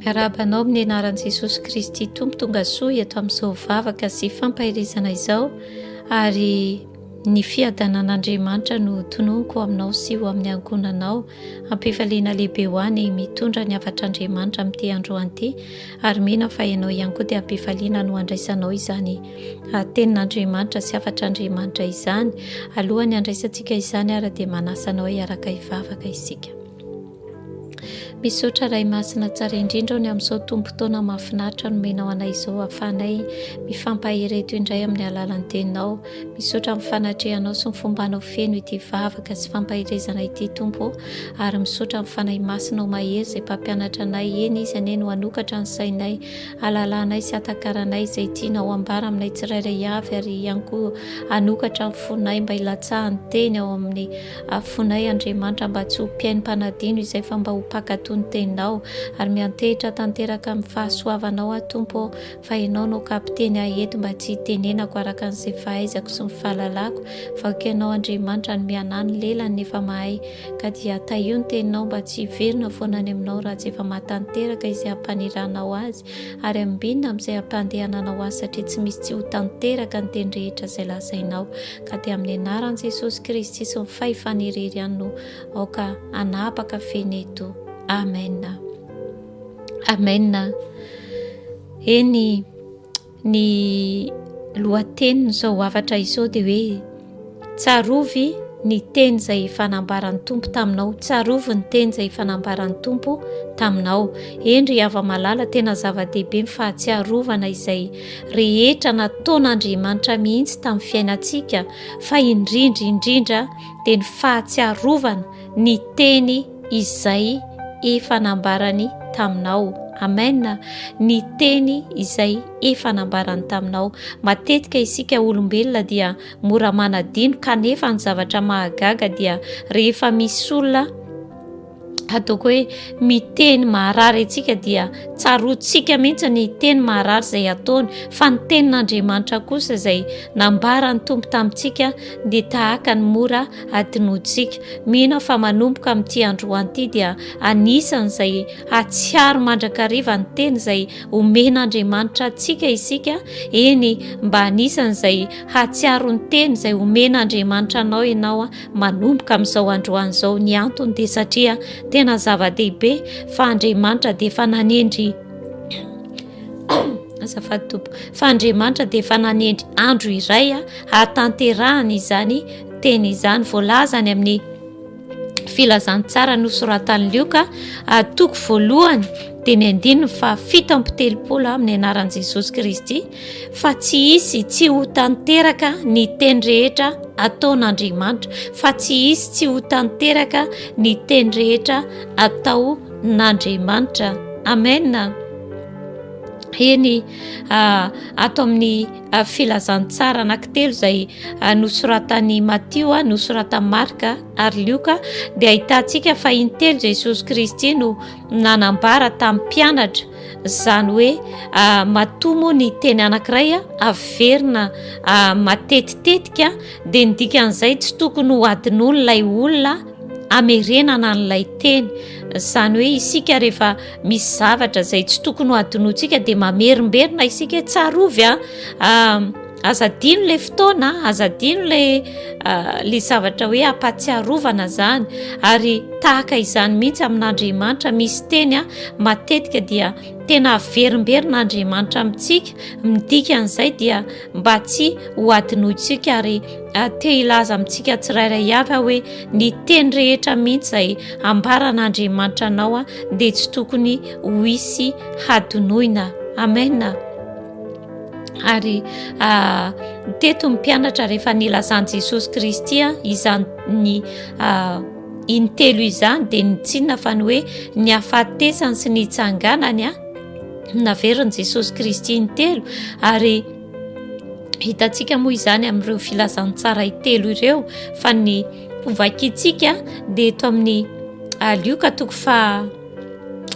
Miarahaba anao amin'ny anaran'i Jesosy Kristy Tompo tonga soa eto amin'izao vavaka sy fampaherezana izao ary ny fiadanan'Andriamanitra no tononiko aminao sy ho amin'ny ankonanao ampifaliana lehibe ho any mitondra ny havatr'Andriamanitra amin'ity androany ity ary mino fa ianao ihany koa dia ampifaliana no andraisanao izany tenin'Andriamanitra sy havatr'Andriamanitra izany alohan'ny andraisantsika izany ary dia manasanao hiaraka hivavaka isika Misaotra Ray Masina tsara indrindra ny amin'izao tombom-potoana mahafinaritra nomenao anay izao ahafahanay mifampahery eto indray amin'ny alalan'ny teninao. Misaotra amin'ny fanatrehanao sy ny fombanao feno ity vavaka sy fampaherezana ity Tompo ô ary misaotra amin'ny Fanahy Masinao mahery izay mpampianatra anay, eny Izy anie no hanokatra ny sainay, halalanay sy hatakaranay izay tianao hambara aminay tsirairay avy ary ihany koa hanokatra ny fonay mba hilatsahan'ny teny ao amin'ny Afoinay Andriamanitra mba tsy ho mpihaino mpanadino izay fa mba ho mpankatò ny teninao, ary miantehitra tanteraka amin'ny fahasoavanao aho Tompo ô, fa ianao no kapiteny ahy eto mba tsy hitenenako araka an'izay fahaizako sy ny fahalalako, fa ko ianao Andriamanitra no mianà ny lelany nefa mahay, ka dia tahio ny teninao mba tsy hiverina foana any aminao raha tsy efa mahatanteraka izay hampanirahanao azy, ary ambinina amin'izay hampandehananao azy satria tsy misy tsy ho tanteraka ny teny rehetra izay lazainao. ka dia amin'ny anaran'i Jesosy Kristy sy ny fahefana irery ihany no aoka anapaka feno eto. Amen. Amen. Eny ny lohatenin'izao hafatra izao dia hoe tsarovy ny teny izay efa nambaran'ny tompo taminao tsarovy ny teny izay efa nambaran'ny tompo taminao endry hava malala tena zava-dehibe ny fahatsiarovana izay rehetra nataon'Andriamanitra mihitsy tamin'ny fiainantsika fa indrindra indrindra dia ny fahatsiarovana ny teny izay efa nambarany taminao. Amen. Ny teny izay efa nambarany taminao. Matetika isika olombelona dia mora manadino kanefa ny zavatra mahagaga dia rehefa misy olona ataoko hoe miteny maharary antsika dia tsaroantsika mihitsy ny teny maharary izay ataony fa ny tenin'andriamanitra kosa izay nambarany tompo tamintsika dia tahaka ny mora adinontsika mino fa manomboka amin'ity androanty dia anisan'izay hatsiaro mandrakariva ny teny izay omen'andriamanitra antsika isika eny mba anisan'izay hatsiaro ny teny izay omen'andriamanitra anao ianao a manomboka amin'izao androany izao ny antony dia satria tena zava-dehibe fa andriamanitra dia efa nanendry azafady tompo fa andriamanitra dia efa nanendry andro iray a hahatanterahana izany teny izany voalazany amin'ny filazantsara nosoratan'ny lioka atoko voalohany dia ny andininy fa fito ampitelopolo amin'ny anaran'i jesosy kristy fa tsy hisy tsy ho tanteraka ny teny rehetra ataon'Andriamanitra, fa tsy hisy tsy ho tanteraka ny teny rehetra ataon'Andriamanitra. Amena. Eny ah, ato amin'ny ah, filazantsara anankitelo izay ah, nosoratan'i Matio, ah, nosoratan'i Marka ary Lioka, dia ahitantsika fa intelo Jesosy Kristy no nanambara tamin'ny mpianatra Izany hoe matoa moa ny teny anankiray averina matetitetika dia ny dikan'izay tsy tokony ho adinon'ilay olona amerenana an'ilay teny. Izany hoe isika rehefa misy zavatra izay tsy tokony ho adinontsika dia mamerimberina isika hoe tsarovy a. Aza adino le fotoana, aza adino le ah, le zavatra hoe ampatsiarovana zany ary tahaka izany mihitsy amin'Andriamanitra misy teny ah, matetika dia tena averimberina Andriamanitra amintsika midika an'izay dia mba tsy ho adinointsika ary ah, te hilaza amintsika tsirairay avy ah, hoe ny teny rehetra mihitsy izay ambaran'Andriamanitra anao ah, dia tsy tokony ho hisy hadinoina. Amena. ary ah, teto ny mpianatra rehefa nilazan'i jesosy kristy a ah, izany ny ah, intelo izany dia nitsinona fa ny hoe ny hafatesany sy ny itsanganany a naverin'i jesosy kristy intelo ary hitantsika moa izany amin'ireo filazantsara itelo ireo fa ny hovakitsika dia eto amin'ny lioka toko fa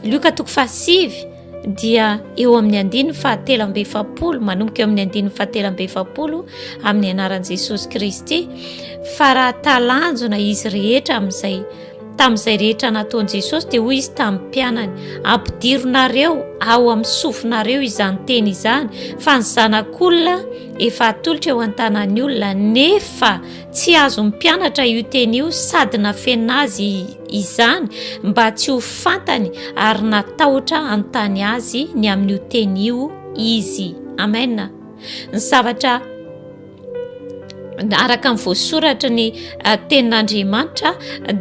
lioka toko fahasivy dia eo amin'ny andininy fahatelo amby efapolo manomboka eo amin'ny andininy fahatelo amby efapolo amin'ny anaran'i jesosy kristy fa raha talanjona izy rehetra amin'izay tamin'izay rehetra nataon'i jesosy dia hoy izy tamin'ny mpianany ampidironareo ao amin'ny sofinareo izany teny izany fa ny zanak'olona efa atolotra eo an-tanan'ny olona nefa tsy azon'ny mpianatra io teny io sady nafena azy Izany mba tsy ho fantany ary natahotra hanontany azy ny amin'io teny io izy. Amen. Ny zavatra araka ny voasoratra ny eh, tenin'Andriamanitra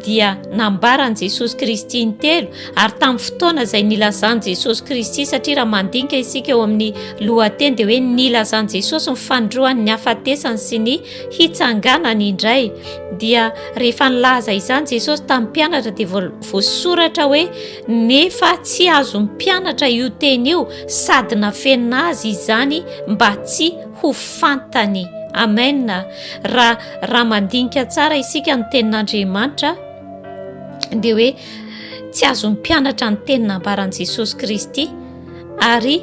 dia nambaran'i Jesosy Kristy ny telo ary tamin'ny fotoana izay nilazan'i Jesosy Kristy satria raha mandinika isika eo amin'ny lohateny dia hoe nilazan'i Jesosy ny fanindroany ny hafatesany sy ny hitsanganany indray dia rehefa nilaza izany jesosy tamin'ny mpianatra dia voasoratra hoe nefa tsy azo mpianatra io teny io sady nafenina azy izany mba tsy ho fantany amena raha raha mandinika tsara isika ny tenin'andriamanitra dia hoe tsy azo mpianatra ny teny nambaran'i jesosy kristy ary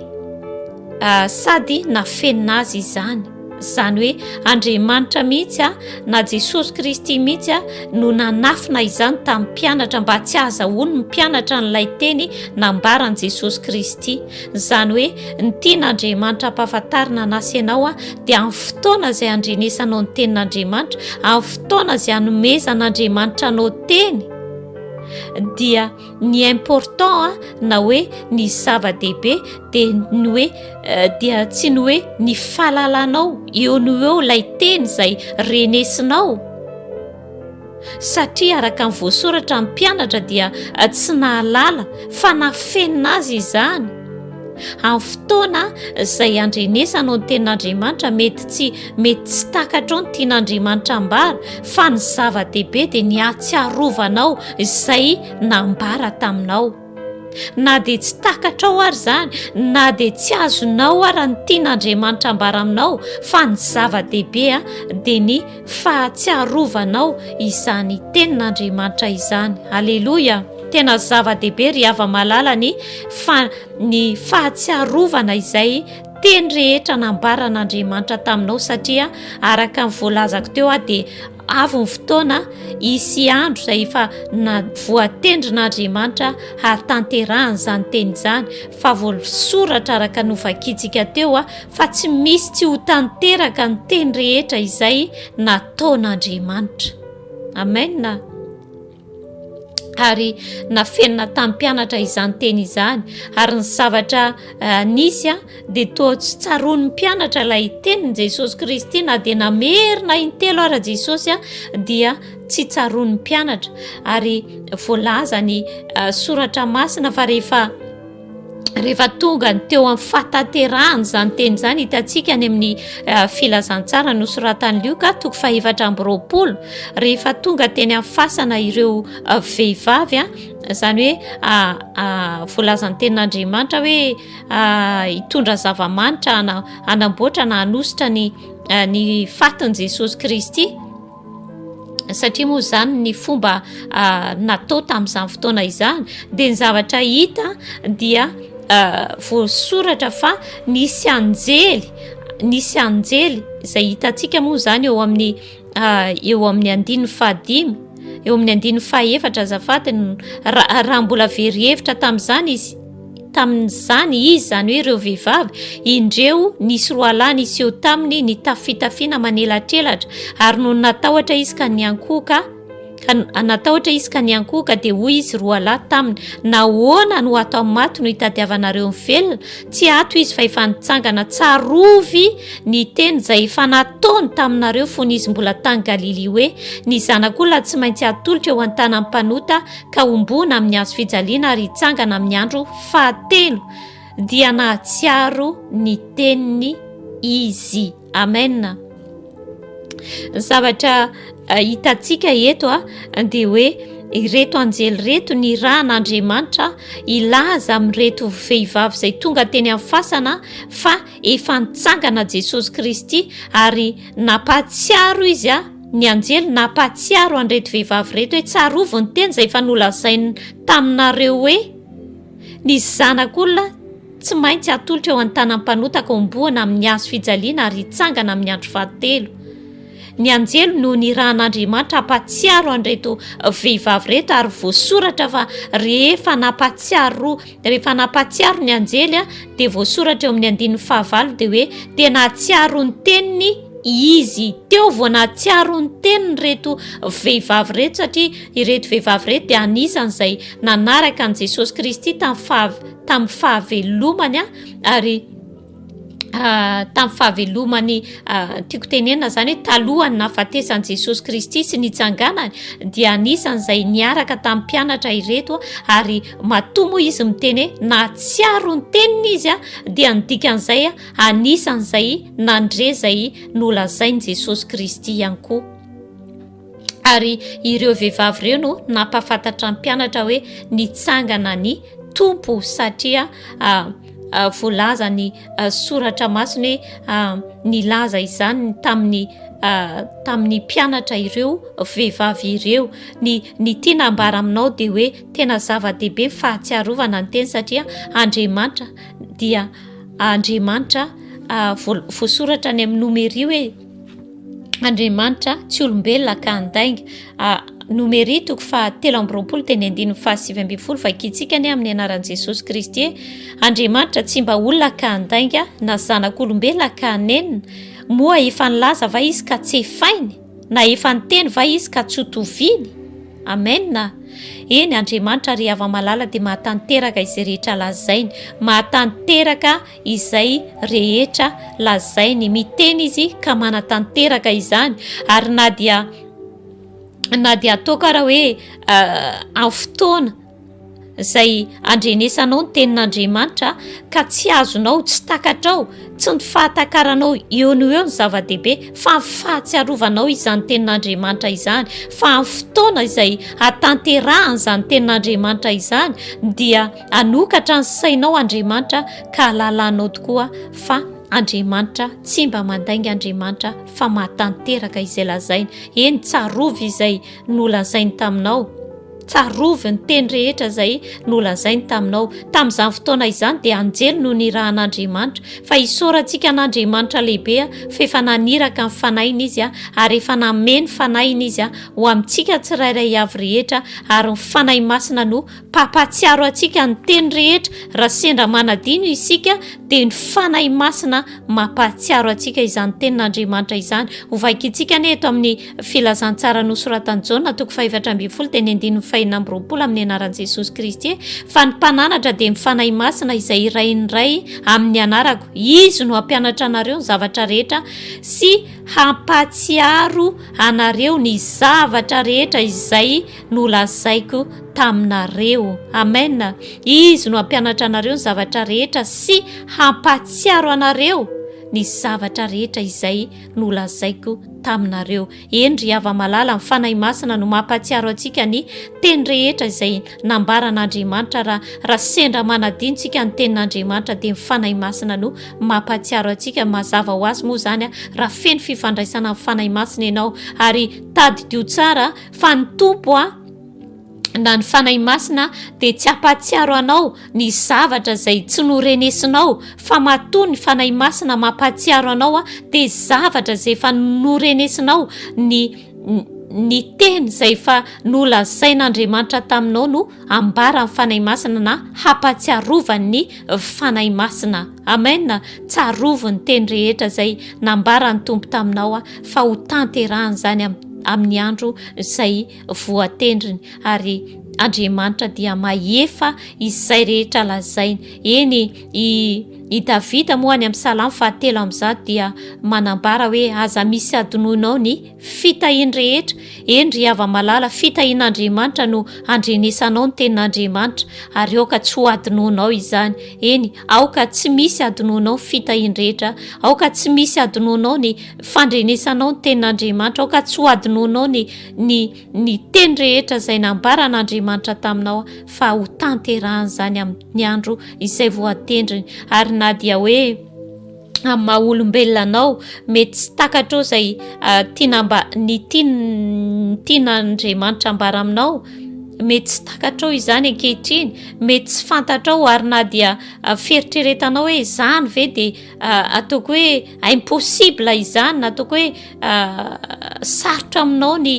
sady nafenina azy izany izany hoe andriamanitra mihitsy a na jesosy kristy mihitsy a no nanafina izany tamin'ny mpianatra mba tsy azahoany ny mpianatra n'ilay teny nambaran'i jesosy kristy izany hoe ny tian'andriamanitra ampahafantarina anasenao a dia amin'ny fotoana izay andrenesanao ny tenin'andriamanitra amin'ny fotoana izay anomezan'andriamanitra anao teny dia ny important a na hoe ny zava-dehibe dia ny hoe euh, dia tsy ny hoe ny falalanao eo no eo ilay teny izay renesinao satria araka ny voasoratra ny mpianatra dia euh, tsy nahalala fa nafenina azy izany Amin'ny fotoana izay andrenesanao ny tenin'Andriamanitra, mety tsy mety tsy takatrao ny tian'Andriamanitra ambara, fa ny zava-dehibe dia ny hatsiarovanao izay nambara taminao. Na dia tsy takatrao ary izany, na dia tsy azonao ary ny tian'Andriamanitra ambara aminao, fa ny zava-dehibe dia ny Fahatsiarovanao izany tenin'Andriamanitra izany. Aleloia! Tena zava-dehibe ry hava malala ny fa ny fahatsiarovana izay teny rehetra nambaran'Andriamanitra taminao satria araka ny voalazako teo aho dia avy ny fotoana hisy andro izay efa na voatendrin'Andriamanitra hahatanterahana izany teny izany fa voasoratra araka novakintsika teo aho fa tsy misy tsy ho tanteraka ny teny rehetra izay nataon'Andriamanitra. Amena. Ary nafenina tamin'ny mpianatra izany teny izany, ary ny zavatra eh, nisy a, dia toa tsy tsaroan'ny mpianatra ilay tenin'i Jesosy Kristy na dia namerina intelo ara Jesosy a, dia tsy tsaroan'ny mpianatra. Ary voalazany eh, soratra masina fa rehefa rehefa tonga ny teo amin'ny fataterahan' izany teny izany hitantsika any amin'ny eh, filazantsara nosoratan'ny lioka toko fahefatra amby roapolo rehefa tonga teny amin'ny fasana ireo eh, vehivavy a izany hoe ah, ah, voalazan'ny tenin'andriamanitra hoe ah, hitondra zava-manitra hanamboatra na hanositra ny ny fatin'i jesosy kristy satria moa izany ny fomba ah, natao tamin'izany fotoana izany dia ny zavatra hita dia ah, voasoratra fa nisy anjely nisy anjely izay hitantsika moa izany eo amin'ny ah, eo amin'ny andininy fahadimy eo amin'ny andininy fahefatra azafady raha mbola verihevitra tamin'izany izy tamin'izany izy, izany hoe ireo vehivavy, indreo nisy roalahy niseho taminy nitafy fitafiana manelatrelatra, ary nony natahotra izy ka niankohoka, ka natahotra izy ka niankohoka, dia hoy izy roalahy taminy, nahoana no ato amin'ny maty no hitadiavanareo ny velona? Tsy ato izy fa efa nitsangana, tsarovy ny teny izay efa nataony taminareo fony izy mbola tany Galilia hoe, ny zanak'olona tsy maintsy hatolotra eo an-tanan'ny mpanota, ka homboana amin'ny hazo fijaliana ary hitsangana amin'ny andro fahatelo dia nahatsiaro ny teniny izy amena zavatra eh, hitantsika eto a ah, dia hoe ireto anjely reto ny rahan'andriamanitra hilaza amin'ireto vehivavy izay tonga teny amin'ny fasana fa Efa nitsangana Jesosy Kristy ary nampahatsiaro izy a, ny anjely nampahatsiaro an'ireto vehivavy ireto hoe tsarovy ny teny izay efa nolazainy taminareo hoe ny zanak'olona tsy maintsy hatolotra eo an-tanan'ny mpanota kaombohana amin'ny hazo fijaliana ary hitsangana amin'ny andro fahatelo. Ny anjely no nirahan'Andriamanitra hampatsiaro an'ireto vehivavy ireto ary voasoratra fa rehefa nampatsiaro rehefa nampatsiaro ny anjely dia voasoratra eo amin'ny andininy fahavalo dia hoe dia nahatsiaro ny teniny izy teo vao nahatsiaro ny teniny ireto vehivavy ireto satria ireto vehivavy ireto dia anisany izay nanaraka an'i Jesosy Kristy tamin'ny fav- tamin'ny fahavelomany ary Ah, tamin'ny fahavelomany ah, tiako tenenina zany hoe talohan'ny nahafatesan'i jesosy kristy sy nitsanganany dia anisan'izay niaraka tamin'ny mpianatra ireto a ary matoa moa izy miteny hoe nahatsiaro ny tenina izy a dia nidikan'izay a anisan'izay nandre zay nolazain'i jesosy kristy ihany koa ary ireo vehivavy ireo no nampafantatra ny mpianatra hoe nitsangana ny tompo satria ah, ah, voalaza ny ah, soratra masina hoe nilaza izany tamin'ny tamin'ny mpianatra ireo vehivavy ireo ny ny tiana ambara aminao dia hoe tena zava-dehibe ny fahatsiarovana ny teny satria andriamanitra dia andriamanitra voasoratra any amin'ny nomerio e Andriamanitra tsy olombelona ka handainga. Ah, Nomery toko fahatelo amby roapolo teny andininy fahasivy ambin'ny folo vakintsika anie amin'ny anaran'i Jesosy Kristy e. Andriamanitra tsy mba olona ka handainga na zanak'olombelona ka hanenina. Moa efa nilaza va izy ka tsy efainy? Na efa niteny va izy ka tsy hotoviany? Amen. Eny, Andriamanitra ry hava-malala dia mahatanteraka izay rehetra lazainy. Mahatanteraka izay rehetra lazainy, miteny izy ka manatanteraka izany, ary na dia na dia ataoko ara hoe amin'ny fotoana izay andrenesanao ny tenin'Andriamanitra ka tsy azonao, tsy takatrao, tsy ny fahatakaranao eo no eo ny zava-dehibe fa ny fahatsiarovanao izany tenin'Andriamanitra izany, fa amin'ny fotoana izay hatanterahany izany tenin'Andriamanitra izany dia Hanokatra ny sainao Andriamanitra ka halalanao tokoa fa Andriamanitra tsy mba mandainga Andriamanitra fa mahatanteraka izay lazainy. Eny, tsarovy izay nolazainy taminao. Tsarovy ny teny rehetra izay nolazainy taminao. Tamin'izany fotoana izany dia anjely no nirahan'Andriamanitra. Fa hisaorantsika an'Andriamanitra lehibe fa efa naniraka ny Fanahiny Izy ary efa nanome ny Fanahiny Izy ho amintsika tsirairay avy rehetra ary ny Fanahy Masina no Mpampatsiaro antsika ny teny rehetra raha sendra manadino isika dia ny Fanahy Masina mampahatsiaro antsika izany tenin'Andriamanitra izany. Hovaikintsika anie eto amin'ny filazantsara nosoratan'i Jaona toko fahefatra ambin'ny folo teny andininy fahenina amby roapolo amin'ny anaran'i Jesosy Kristy fa ny mpananatra dia ny Fanahy Masina izay irahin'ny Ray amin'ny anarako. Izy no hampianatra anareo ny zavatra rehetra sy hampatsiaro anareo ny zavatra rehetra izay nolazaiko taminareo. Amen. Izy no hampianatra anareo ny zavatra rehetra sy hampahatsiaro anareo ny zavatra rehetra izay nolazaiko taminareo. Eny ry hava malala, ny Fanahy Masina no mampahatsiaro antsika ny teny rehetra izay nambaran'Andriamanitra. Raha raha sendra manadino tsika ny tenin'Andriamanitra dia ny Fanahy Masina no mampahatsiaro antsika. Mazava ho azy moa izany raha feno fifandraisana amin'ny Fanahy Masina ianao ary tadidio tsara Fa ny Tompo a, na ny Fanahy Masina dia tsy hampahatsiaro anao ny zavatra izay tsy norenesinao, fa matoa ny Fanahy Masina mampahatsiaro anao a, dia zavatra izay efa norenesinao, ny ny teny izay efa nolazain'Andriamanitra taminao no ambaran'ny Fanahy Masina na hampatsiarovan'ny Fanahy Masina. Amen. Tsarovy ny teny rehetra izay nambaran'ny Tompo taminao fa ho tanterahany izany amin'ny andro izay voatendriny ary Andriamanitra dia mahefa izay rehetra lazainy. Eny, i, i Davida moa any amin'ny salamo fahatelo amin'izato dia manambara hoe aza misy adinoinao ny Fitahiany rehetra, eny ry hava-malala, fitahian'Andriamanitra no handrenesanao ny tenin'Andriamanitra, ary aoka tsy ho adinoanao izany, eny, aoka tsy misy adinoanao ny fitahiany rehetra, aoka tsy misy adinoanao ny fandrenesanao ny tenin'Andriamanitra, aoka tsy ho adinoanao ny, ny, ny teny rehetra izay nambaran'Andriamanitra taminao, fa ho tanterahany izany amin'ny andro izay voatendriny, ary na dia hoe. amin'ny maha olombelona anao mety tsy takatrao izay ah, tiana mba ny tiana andriamanitra ambara aminao mety tsy takatrao izany ankehitriny mety tsy fantatrao ary na dia ah, fieritreretanao hoe izany ve dia ah, ataoko hoe impossible izany na ataoko hoe sarotra aminao ny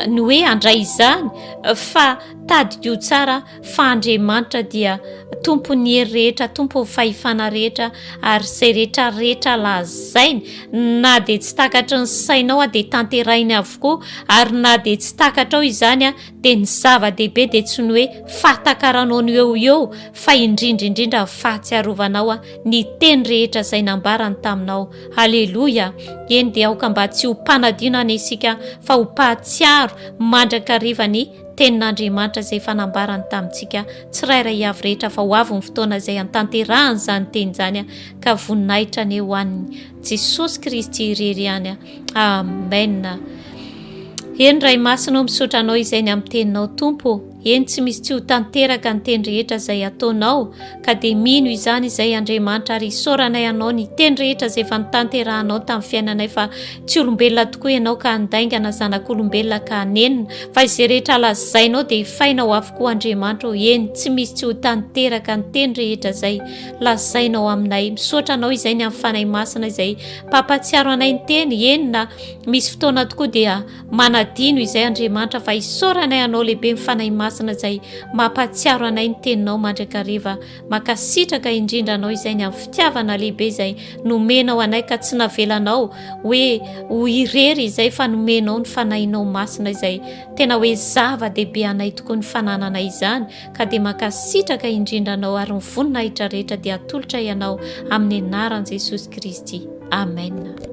ny hoe handray izany fa tadiko tsara fa Andriamanitra dia Tompon'ny hery rehetra, Tompon'ny fahefana rehetra, ary izay rehetra rehetra lazainy, na dia tsy takatry ny sainao dia tanterahiny avokoa, ary na dia tsy takatrao izany dia ny zava-dehibe dia tsy ny hoe fahatakaranao ny eo eo, fa indrindra indrindra ny fahatsiarovanao ny teny rehetra izay nambarany taminao. Haleloia! Eny dia aoka mba tsy ho mpanadino any isika, fa ho mpahatsiaro mandrakariva ny Tenin'Andriamanitra izay efa nambarany tamintsika tsirairay avy rehetra fa ho avy ny fotoana izay hantanterahan' izany teny izany ka voninahitra anie ho an'ny Jesosy Kristy irery ihany. Amen. Eny Ray Masina ô misaotra Anao izay ny amin'ny teninao Tompo ô. Eny tsy misy tsy ho tanteraka ny teny rehetra izay ataonao ka dia mino izany izay Andriamanitra ary isaoranay anao ny teny rehetra izay efa nitanterahanao tamin'ny fiainanay fa tsy olombelona tokoa ianao ka handaingana zanak'olombelona ka hanenina fa izay rehetra lazainao dia hifainao avokoa Andriamanitra o eny tsy misy tsy ho tanteraka ny teny rehetra izay lazainao aminay misaotra anao izay ny amin'ny fanahy masina izay mpampatsiaro anay ny teny eny na misy fotoana tokoa dia Manadino izay Andriamanitra fa isaoranay anao lehibe ny Fanahy Masina izay mampahatsiaro anay ny teninao mandrakariva. Mankasitraka indrindra anao izay ny amin'ny fitiavana lehibe izay nomenao anay ka tsy navelanao hoe ho irery izay fa nomenao ny Fanahinao Masina izay tena hoe zava-dehibe anay tokoa ny fanananay izany ka dia mankasitraka indrindra anao ary ny voninahitra rehetra dia atolotray anao amin'ny anaran'i Jesosy Kristy. Amen.